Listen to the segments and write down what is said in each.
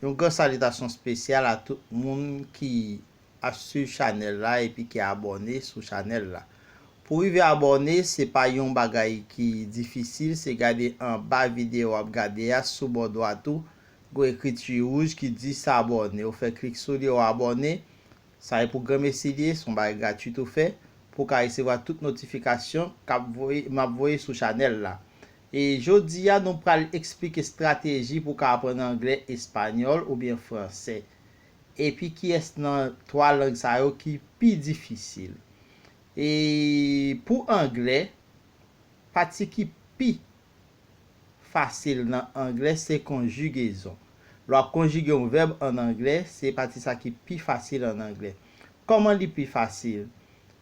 Yon gran salitasyon spesyal a tout moun ki ap swiv chanèl la epi ki abòne sou chanèl la. Pou rive abòne se pa yon bagay ki difisil se gade anba video wap gade a sou bò dwat ou gon ekriti rouj ki di s'abonner ou fè klik sou li ou abòne sa e pou granmesi li ye son bagay gratuit ou fè pou ka resevwa tout notifikasyon kap voye map voye sou chanèl la E jodi a nou pral esplike strateji pou w ka aprann anglè, espanyòl oubyen fransè. Epi kiyès nan 3 lang sa yo ki pi difisil. E pou anglè, pati ki pi fasil nan anglè se konjigezon. Lè w ap konjige yon vèb an anglè, se pati sa ki pi fasil an anglè. Kòman li pi fasil?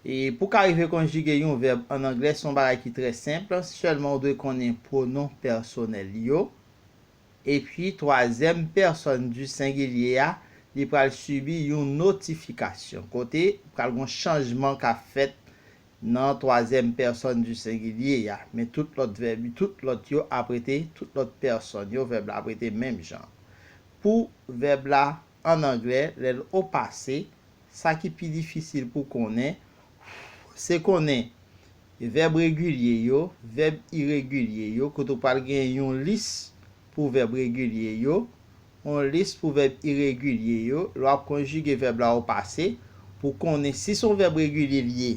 E pou w ka rive konjige yon vèb ann anglè se yon bagay ki trè senp, sèlman ou dwe konnen pwonon pèsonèl li yo. Epi twazyèm pèsòn di sengilye a li pral sibi yon notifikasyon, kote pral gen yon chanjman k ap fèt nan twazyèm pèsòn di sengilye a. Men tout lòt vèb, tout lòt yo ap rete, tout lòt pèsòn yo, vèb la ap rete menm jan. Pou vèb la. an anglè, lè l au pase, sa ki pi difisil pou konnen, se konnen vèb regilye yo, vèb iregilye yo, kote ou pral gen yon lis pou vèb regilye yo, yon lis pou vèb iregilye yo, lè w ap konjige vèb la au pase, pou konnen si se yon vèb regilye li ye,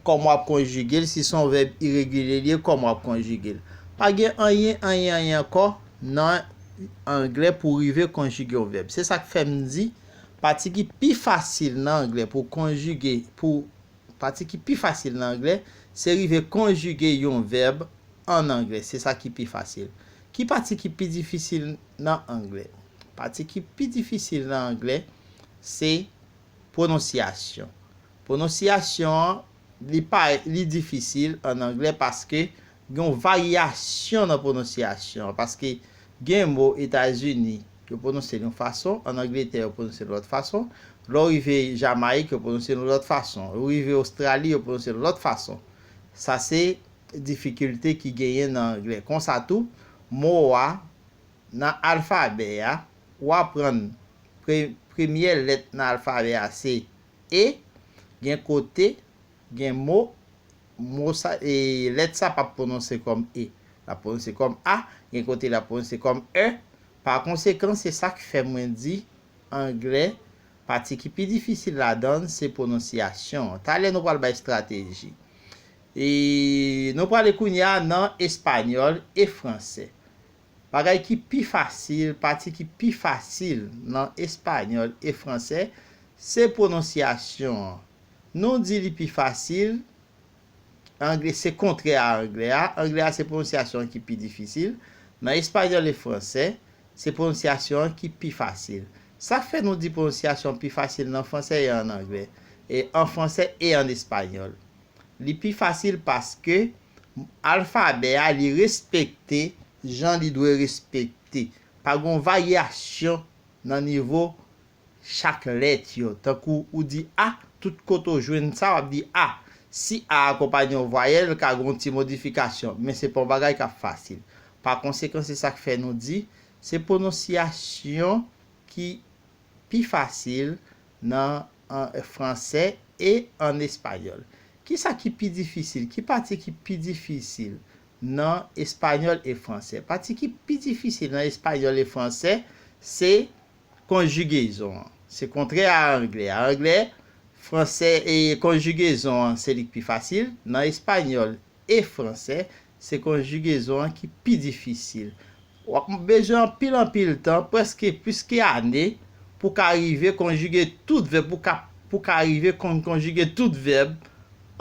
kòman w ap konjige l, si se yon vèb iregilye li ye, kòman w ap konjige l. Pa gen anyen, anyen, anyen ankò. nan Anglè pou rive konjige yon vèb. Se sa k fè m di, pati ki pi fasil nan Anglè pou w konjige, pou, pati ki pi fasil nan Anglè, se rive konjige yon vèb ann Anglè. Se sa ki pi fasil. Ki pati ki pi difisil nan Anglè? Pati ki pi difisil nan Anglè, se pwononsyasyon. Pwononsyasyon an. Li pa li difisil an anglè paske gen yon varyasyon nan pwononsyasyon an. Paske gen mo Etazini, yo pwononse l yon fason, ann Angletè yo pwononse l yon lòt fason, lè w rive Jamayik yo pwononse l yon lòt fason, ou rive Ostrali yo pwononse l yon lòt fason. Sa se difikilte ki genyen nan anglè. Konsa tou, mo a nan alfabè a, ou aprann pre premyè lèt nan alfabè a se. e, gen kote, gen mo, mo sa, e, lèt sa pa p pwononse kòm e. L ap pwononse kòm a, gen kote l ap pwononse kòm è. Pa konsekan, se sa k fè mwen di, angle, pati ki pi difisil ladan l, se pwononsyasyon an. Talè nou pral bay estrateji. E, nou prale kounye a nan espanyòl e fransè. Bagay ki pi fasil, pati ki pi fasil nan espanyòl e fransè, se pwononsyasyon an. Nou di li pi fasil, angle se kontrè a angle a, angle a se pwononsyasyon an ki pi difisil, nan espanyòl e fransè, se pwononsyasyon an ki pi fasil. Sa k fè nou di pwononsyasyon an pi fasil nan fransè e an angle, e an fransè e an espanyòl? Li pi fasil paske. Alfabè a li respekte jan li dwe respekte. Pa gon varyasyon nan nivo chak lèt yo. Tankou ou di a, tout kote ou jwenn sa, w ap di a. Si a akonpanye yon vwayèl, ka gen yon ti modifikasyon, men se pa yon bagay k ap fasil. Pa konsekan se sa k fè nou di, se pwononsyasyon ki pi fasil nan. an fransè e an espanyòl. Ki sa ki pi difisil? Ki pati ki pi difisil nan espanyòl e fransè? Pati ki pi difisil nan espanyòl e fransè se konjigezon an. Se kontrè a anglè a. Anglè, fransè e konjigezon an se li k pi fasil. Nan espanyòl e franse, se konjigezon an ki pi difisil. W ap bezwen anpil anpil tan, prèske plis ke ane, pou w ka rive konjige tout vèb, pou w ka, pou w ka rive konn konjige tout vèb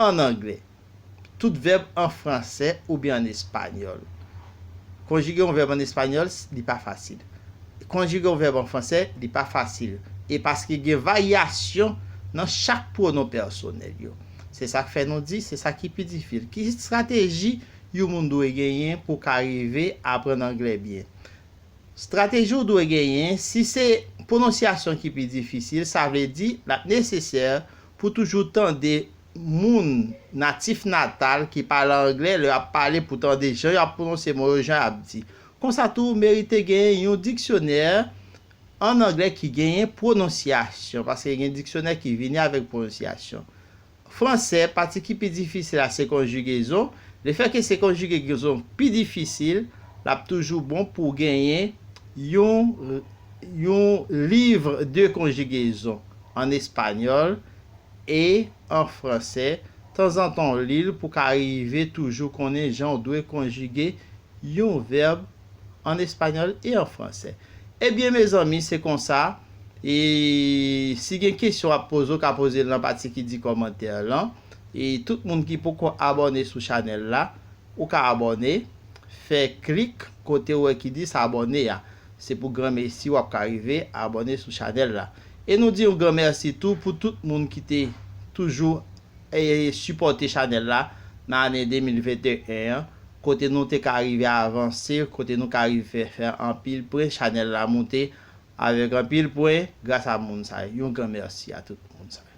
ann angle, tout vèb an franse oubyen ann espanyòl. Konjige yon vèb ann espanyòl, li pa fasil. Konjige yon vèb an franse, li pa fasil. E paske gen varyasyon nan chak pwonon pèsonèl yo. Se sa k fè nou di, se sa ki pi difil. Ki estrateji yon moun dwe genyen pou w ka rive aprann anglè byen? Estrateji w dwe genyen, si se pwononsyasyon ki pi difisil, sa vle di l ap nesesè pou w toujou tande moun natif natal ki pale anglè lè y ap pale pou w tande jan y ap pwononse mo yo, jan y ap di. Konsa tou, ou merite genyen yon diksyonè an anglè ki genyen pwononsyasyon, paske gen diksyonè ki vini avèk pwononsyasyon. Fransè, pati ki pi difisil la se konjigezon, lefètke se konjigegezon pi difisil, l ap toujou bon pou w genyen yon yon livre de conjugaison an espanyòl e an fransè, tanzantan w li l pou w ka rive toujou konnen jan w dwe konjige yon vèb, an espagnol e an fransè. Ebyen mezanmi se konsa e si gen kesyon wap poze ou ka pozel nan pati ki di kòmantè lan e tout moun ki poko abòne sou chanèl la ou ka abòne fè klik kote ou wè ki di s'abonner a se pou granmesi wap ka rive abòne sou chanèl la e nou di yon gran mèsi tou pou tout moun ki te toujou e sipòte chanèl la nan ane 2021 an. Kote nou te ka rive avanse kote nou ka rive fè fè anpil pwen chanèl la moute avèk anpil pwen gras a moun sa yo yon gran mèsi a tout moun sa yo.